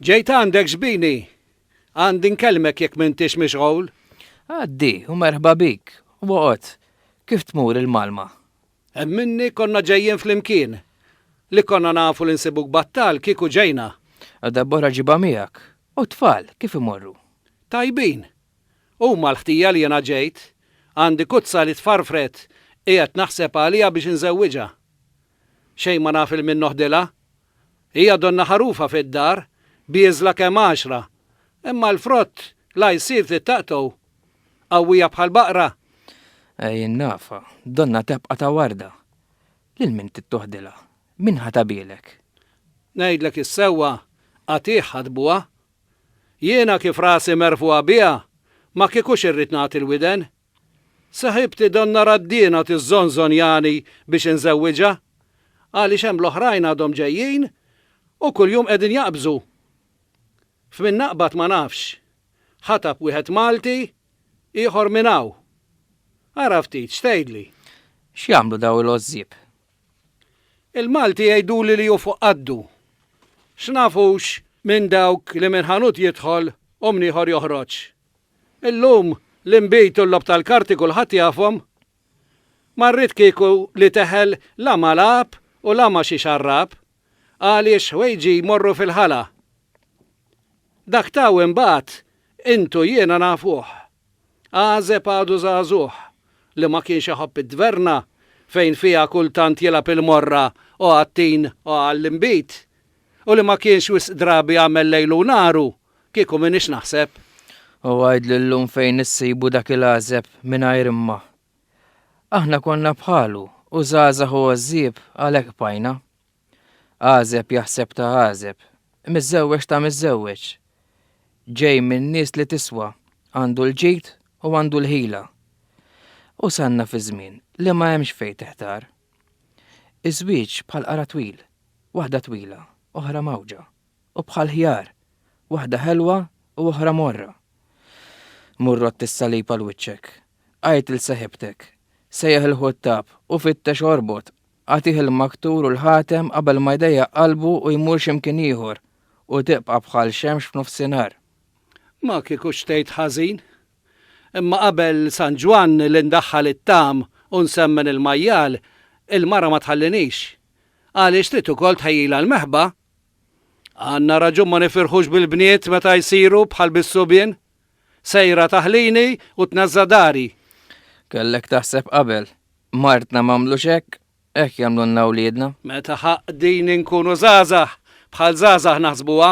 Ġejt għandek xbini, għandi nkellmek jekk m'intix mixgħul. Għaddi, u merħba bik, u għot, kif tmur il-Malma? Hemm minni konna ġejjin flimkien. Li konna nafu li nsibuk battal kieku ġejna. U darb'oħra ġibha miegħek. U t-tfal, kif imorru? Tajbin. Huma l-ħtija li jiena ġejt. Għandi kuzza li tfarfret, qiegħed naħseb għaliha biex inżewwiġha. Xejn ma naf 'il min noħdilha. Hija donna ħarufa fid-dar, bieżla kemm għaxra, imma l-frott la jsir tittaqtgħu. Qawwija bħal baqra. Ej in-nafa, donna tebqa' ta' warda. Lil min tittoħdilha? Min ħa tabielek? Ngħidlek is-sewwa, qatigħ ħadbuha. Jiena kif rasi merfugħa biha, ma kiekux irrid nagħti l-widen. Saħibti donnha Raddina tiżżonżonjani biex inżewwiġha għaliex hemm l-oħrajn għadhom ġejjin u kuljum qegħdin jaqbżu. F'min naqbad ma nafx. Ħatab wieħed Malti, ieħor minn hawn. Ara ftit x'tgħidli. X'jagħmlu dawn il-għożżieb? Il-Malti jgħiduli li hu fuq qaddu. X'naf hux minn dawk li minn ħanut jidħol u minn ieħor joħroġ. Illum, l-inbid u l-logħob tal-karti kulħadd jafhom. Ma rrid kieku li teħel la ma' lagħab u la ma' xi xarrab, għaliex ħwejġi jmorru fil-ħala. Dak ta' hawn imbagħad, int u jiena nafuh. Għażeb għadu żagħżugħ, li ma kienx iħobb it-tverna fejn fiha kultant jilgħab il-morra o għat-tin o għall-inbid, u li ma kienx wisq drabi għamel lejlu u naru Kieku m'iniex naħseb. U għidli llum fejn issibu dak il-għażeb mingħajr imma. Aħna konna bħalu u żgħażagħ u għożżieb għalhekk bqajna. Għażeb jaħseb ta' għażeb, miżżewweġ ta' miżżewweġ. Ġej minn nies li tiswa, għandu l-ġid u għandu l-ħila. Usanna fi żmien li ma hemmx fejn tiħtar. Iż-żwieġ bħal qara twil, waħda twila, oħra mgħawġa. u bħall-ħjar, waħda ħelwa u oħra morra. Mur għodd is-salib għal wiċċek, għid 'l seħibtek, sejjaħ il-ħuttab u fittex orbot, agħtih il-maktur u l-ħatem qabel ma jdejjaq qalbu u jmur xi mkien ieħor u tibqa' bħal xemx f'nofsinhar. Ma kieku xtejt ħażin. Imma qabel San Ġwann li ndaħħal it-tagħam u nsemmen il-majjal, il-mara ma tħallinix. Għaliex trid ukoll tħejjilha l-meħba Għandna raġun ma nifirħux bil-bniet meta jsiru bħal bis-subien? Sejra taħlini u tnażża' dari. Kellek taħseb qabel. Martna m'għamlux hekk, hekk jagħmlulna wliedna. Meta ħaqdin inkunu żgħażagħ, bħal żgħażagħ naħsbuha.